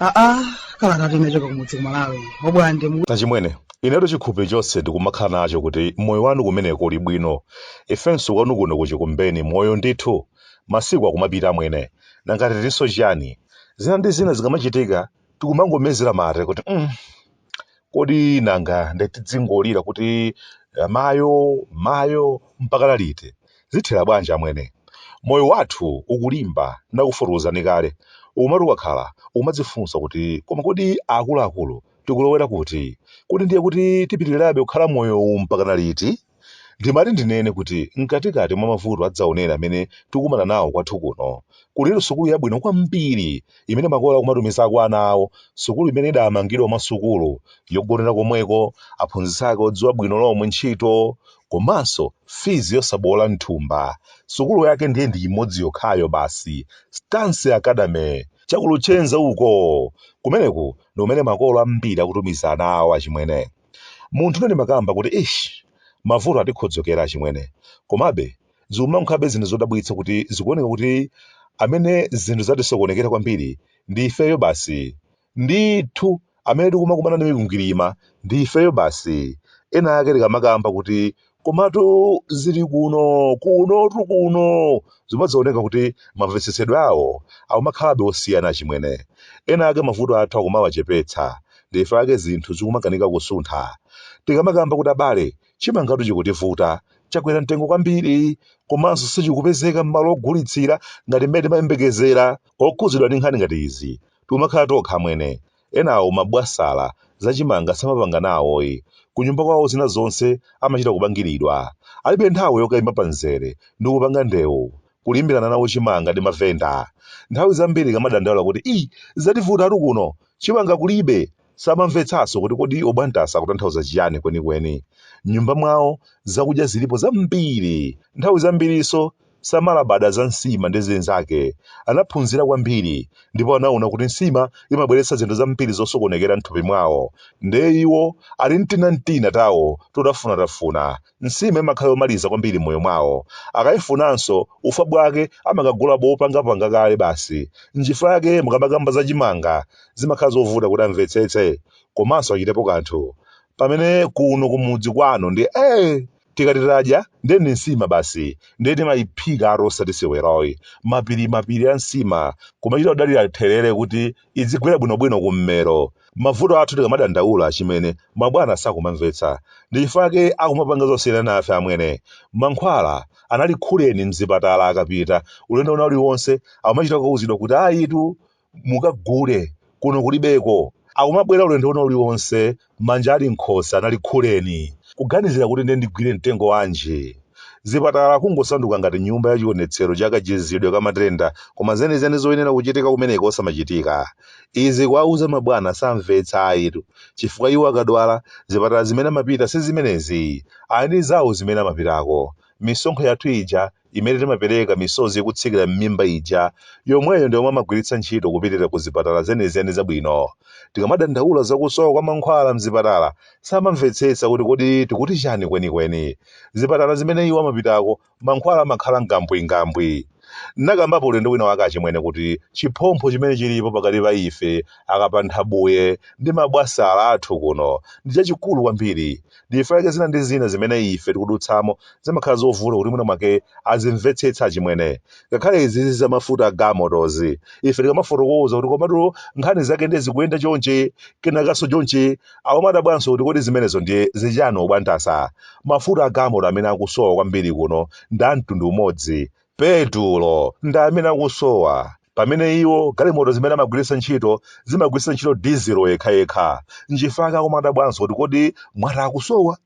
aa kalata inachoka kumudzi ku Malawi obwande achimwene inetu chikhupi chonse ndikumakhala nacho kuti moyo wanu kumeneko uli bwino ifenso kwanu kuno ku Chikumbeni moyo ndithu masiku akumapita amwene nanga titinso chiyani zina ndi zina zikamachitika tikumangomezera mate kuti mm, kodi nanga nde tidzingolira kuti eh, mayo mayo mpaka liti zithera bwanji amwene moyo wathu ukulimba ndakufotokozani kale umati ukakhala umadzifunsa kuti koma kodi akuluakulu tikulowera kuti kodi ndiye kuti tipitirirabe kukhala moyo uwu mpaka liti Ndimati ndinene kuti mkatikati mwa mavuto adzaoneni amene tikumana nawo kwathu kuno, kulitu sukulu yabwino kwambiri imene makolo akumatumizako ana awo, sukulu imene idamangidwa mwa sukulu yogonera komweko, aphunzitsi ake odziwa bwino lomwe ntchito, komanso fizi yosaboola m'thumba. Sukulu yake ndiye ndi imodzi yokhayo basi, Stance Academy, cha ku Luchenza uko! Kumeneku ndi kumene makolo ambiri akutumiza ana awo achimwene. Munthu ine ndimakamba kuti eish mavuto atikhodzokera achimwene komabe zikumakhalabe zinthu zodabwitsa kuti zikuoneka kuti amene zinthu zatisokonekera kwambiri ndi ifeyo basi ndithu amene tikumakumana ndi mikwingwirima ndi ifeyo basi ena ake tikamakamba kuti Komatu zili kuno, kunotu kuno zimadzaoneka kuti mamvetsetsedwe awo akumakhalabe osiyana achimwene. Ena ake mavuto athu akumawachepetsa, ndi ife ake zinthu zikumakanika kusuntha. Tikamakamba kuti abale, chimangatu chikutivuta, chakwera mtengo kwambiri komanso sichikupezeka m'malo ogulitsira ngati mmene timayembekezera, okhudzidwa ndi nkhani ngati izi tikumakhala tokha amwene, enawo mabwasala, zachimanga samapanga nawoyi, kunyumba kwawo zina zonse amachita kupangiridwa, alibe nthawi yokaima pamzere ndikupanga ndewu, kulimbirana nawo chimanga ndi mavenda. Nthawi zambiri ukamadandaula kuti ii zativutatu kuno, chimanga kulibe! Samamvetsanso kuti kodi obwandasa akutanthauza chiyani kwenikweni. M'nyumba mwawo zakudya zilipo zambiri, nthawi zambirinso samalabada za nsima ndi zinzake. Anaphunzira kwambiri ndipo anaona kuti nsima imabweretsa zinthu zambiri zosokonekera m'thupi mwawo. Ndiye iwo ali ndi tinatina tawo totafunatafuna, nsima imakhala yomaliza kwambiri m'moyo mwawo. Akaifunanso, ufa bwake amakagula bopangapanga kale basi. Nchifukwa yake mukamakamba za chimanga, zimakhala zovuta kuti amvetsetse komanso achitepo kanthu. Pamene kuno kumudzi kwanu ndi ee! tikati tadya ndiye ndi nsima basi ndiye timayiphikatu osati seweroyi mapiri mapiri a nsima kumachita kudalira therere kuti idzigwera bwinobwino kummero mavuto athu tikamadandaula achimwene mabwana sakumamvetsa ndi chifukwa chake akumapanga zosiyana nafe amwene mankhwala analikhuleni mzipatala akapita ulendo wina uliwonse amachita kuuzidwa kuti ayitu mukagule kuno kulibeko akumabwera ulendo wina uliwonse manja ali mkhosi analikhuleni kuganizira kuti ndiye ndigwire mtengo wanji zipatala kungosanduka ngati nyumba ya chionetsero cha kachizidwe ka matenda koma zenizeni zoyenera kuchitika kumeneko osamachitika izi kuwauza mabwana samvetsa ayitu chifukwa iwo akadwala zipatala zimene amapita si zimenezi ali ndi zawo zimene amapitako misonkho yathu ija imene timapereka misozi ikutsikira m'mimba ija, yomweyo ndi yomwe amagwiritsa ntchito kupitira ku zipatala zenizeni zabwino. Tikamadandaula za kusowa kwa mankhwala m'zipatala, samamvetsetsa kuti kodi tikuti chani kwenikweni. Zipatala zimene iwo amapitako, mankhwala amakhala ngambwingambwi. Ndinakambapo ulendo wina wake achimwene kuti chiphompho chimene chilipo pakati pa ife akapanthabuye ndi mabwasala athu kuno ndi chachikulu kwambiri. ndi chifukwa chake zina ndi zina zimene ife tikudutsamo zimakhala zovuta kuti mwina mwake azimvetsetsa achimwene ngakhale izizi za mafuta a gamotozi ife tikamafotokoza kuti komatu nkhani zake ndiye zikuyenda chonchi kenakanso chonchi akumadabwanso kuti kodi zimenezo ndiye zichani obwantasa mafuta a gamoto amene akusowa kwambiri kuno ndi a mtundu umodzi Petulo, ndi amene akusowa, pamene iwo, galimoto zimene amagwiritsa ntchito zimagwiritsa ntchito dizilo yekhayekha. N'chifukwa chake akumadabwanso kuti kodi mwati akusowa?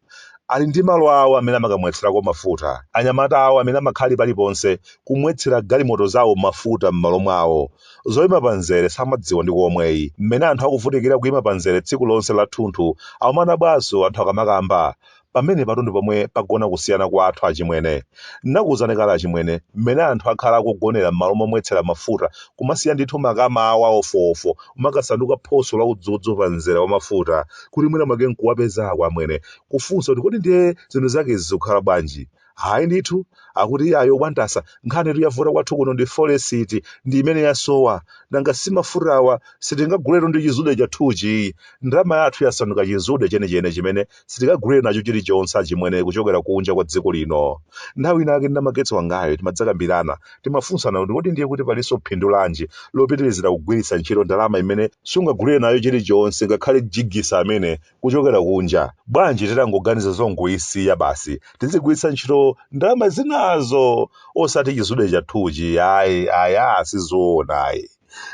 Ali ndi malo awo amene amakamwetserako mafuta. Anyamata awo amene amakhala ali paliponse, kumwetsera galimoto zawo mafuta m'malo mwawo. Zoima pamzere samadziwa ndi komweyi. Mmene anthu akuvutikira kuima pamzere tsiku lonse lathunthu, akumadabwanso anthu akamakamba. pamenepatu ndi pomwe pagona kusiyana kwathu achimwene ndinakuwuzani kale achimwene mmene anthu akhala akugonera m'malo momwetsera mafuta kumasiya ndithu makama awo awofowofo kumakasanduka phoso la udzudzu pa mzera wa mafuta kuti mwina mwake nkuwapezako amwene kufunsa kuti kodi ndiye zinthu zake izi zikukhala bwanji hayi ndithu akuti iyayi obwantasa nkhanitu yavuta kwathu kuno ndi folesiti ndi imene yasowa nanga si mafutawa sitingaguletu ndi chizude chathuchi ndalama yathu yasanduka chizude chenicheni chimene sitingagulire nacho chilichonse achimwene kuchokera kunja kwa dziko lino nthawi inake ndi namagetsi wangayo timadzakambirana timafunsana kuti kodi ndiye kuti palinso phindu lanji lopitirizira kugwiritsa ntchito ndalama imene sungagulire nayo chilichonse ngakhale jigisi amene kuchokera kunja. Bwanji titangoganiza zongoyisiya basi tizigwiritsa ntchito ndalama zinazo osati chizude chathuchi ayi ayi aa sizoona ayi.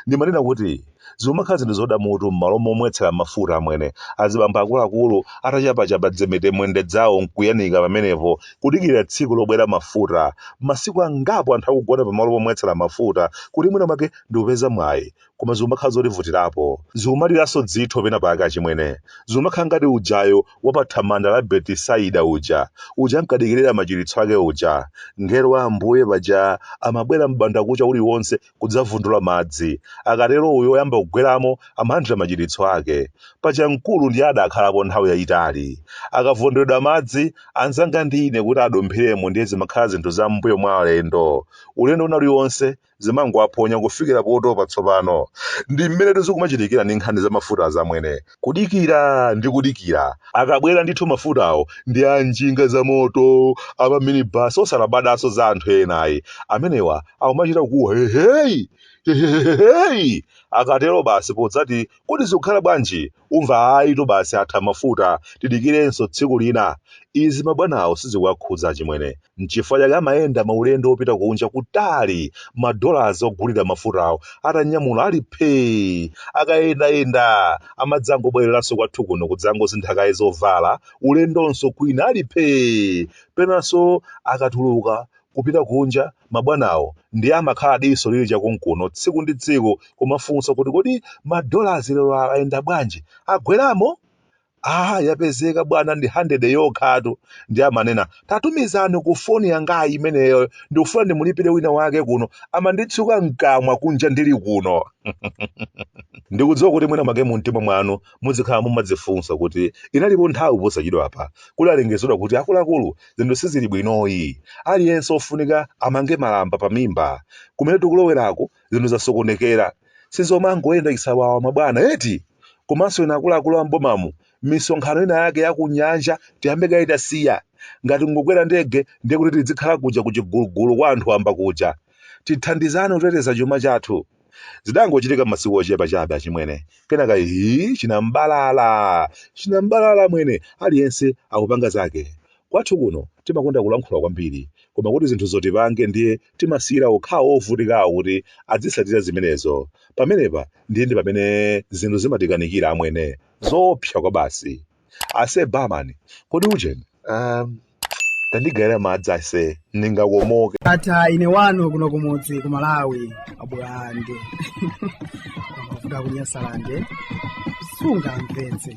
Ndimanena kuti zikumakhala zinthu zoda mutu m'malo momwetsera mafuta amwene azibambo akuluakulu atachapachapa dzimetemwende dzawo nkuyanika pamenepo kudikirira tsiku lobwera mafuta. Masiku angapo anthu akugona pamalo pomwetsera mafuta kuti mwina mwake ndikupeza mwayi koma zikumakhala zotivutirapo zikumaliranso dzitho pena pake achimwene zikumakhala ngati ujayo wa pa thamanda la betisaida uja uja ankadikirira machiritso ake uja ngelo wa ambuye paja amabwera m'bandakucha uliwonse kudzavundula madzi akatero uyo oyamba kugweramo amalandira machiritso ake paja mkulu ndiye adakhalapo nthawi yayitali akavundulidwa madzi anzanga ndiye kuti adumphiremo ndiye zimakhala zinthu za m'mbuyo mwa alendo ulendo wina uliwonse zimangowaphonya kufikira potopa tsopano. Ndi mmenetu zikumachitikira ndi nkhani za mafuta amwene. Kudikira ndi kudikira. Akabwera ndithu mafutawo ndi a njinga za moto, a ma minibus osalabadanso za anthu ena ayi. Amenewa akumachita kukuwa heheyi! Heheheheyi! Akatero basi podzati kodi zikukhala bwanji umva ayitu basi atha mafuta tidikirenso tsiku lina izi mabwanawo sizikuwakhudza achimwene nchifukwa chake amayenda maulendo opita kunja kutali madolazi ogulira mafutawo atanyamula ali phee akayendayenda amadzangobwereranso kwathu kuno kudzangosintha kaye zovala ulendonso kwina ali phee penanso akatuluka kupita kunja Mabwanawo ndiye amakhala diso lili chakunkuno tsiku ndi tsiku kumafunsa kuti kodi ma dollars lero ayenda bwanji? Agweramo? Aaa yapezeka bwana ndi hundred yokhatu. Ndiye amanena tatumizani ku phone yangayi imeneyo ndikufuna ndimulipire wina wake kuno amanditsuka mkamwa kunja ndili kuno. Ndikudziwa kuti mwina mwake mumtima mwanu Mudzikhala mumadzifunsa kuti inalipo nthawi posachedwapa kudalengezedwa kuti akuluakulu zinthu sizili bwinoyi. Aliyense ofunika amange malamba pamimba. Kumene tikuloweraku zinthu zasokonekera. Sizomangoyenda chisawawa mabwana eti! Komanso inu akuluakulu a m'bomamu misonkhano ina yake ya kunyanja tiyambe kaye tasiya. Ngati nkukwera ndege ndiye kuti tidzikhala kuja ku Chigulugulu kwa anthu wamba kuja. Tithandizane kuteteza chuma chathu. zidangochitika m'masiku ochepa chabe achimwene kenaka ihi chinambalala chinambalala amwene aliyense akupanga zake kwathu kuno timakonda kulankhula kwambiri koma kuti zinthuzo tipange ndiye timasiyira okhawo ovutikawo kuti adzitsatira zimenezo pamenepa ndiye ndi pamene zinthu zimatikanikira amwene zoopsa kwabasi Ase barman, kodi ujeni? Um, tandigaira madzi ase, ndingakomoke. ata ine wanu kuno kumudzi ku malawi abwande mavuto kunyasalande sungamvetse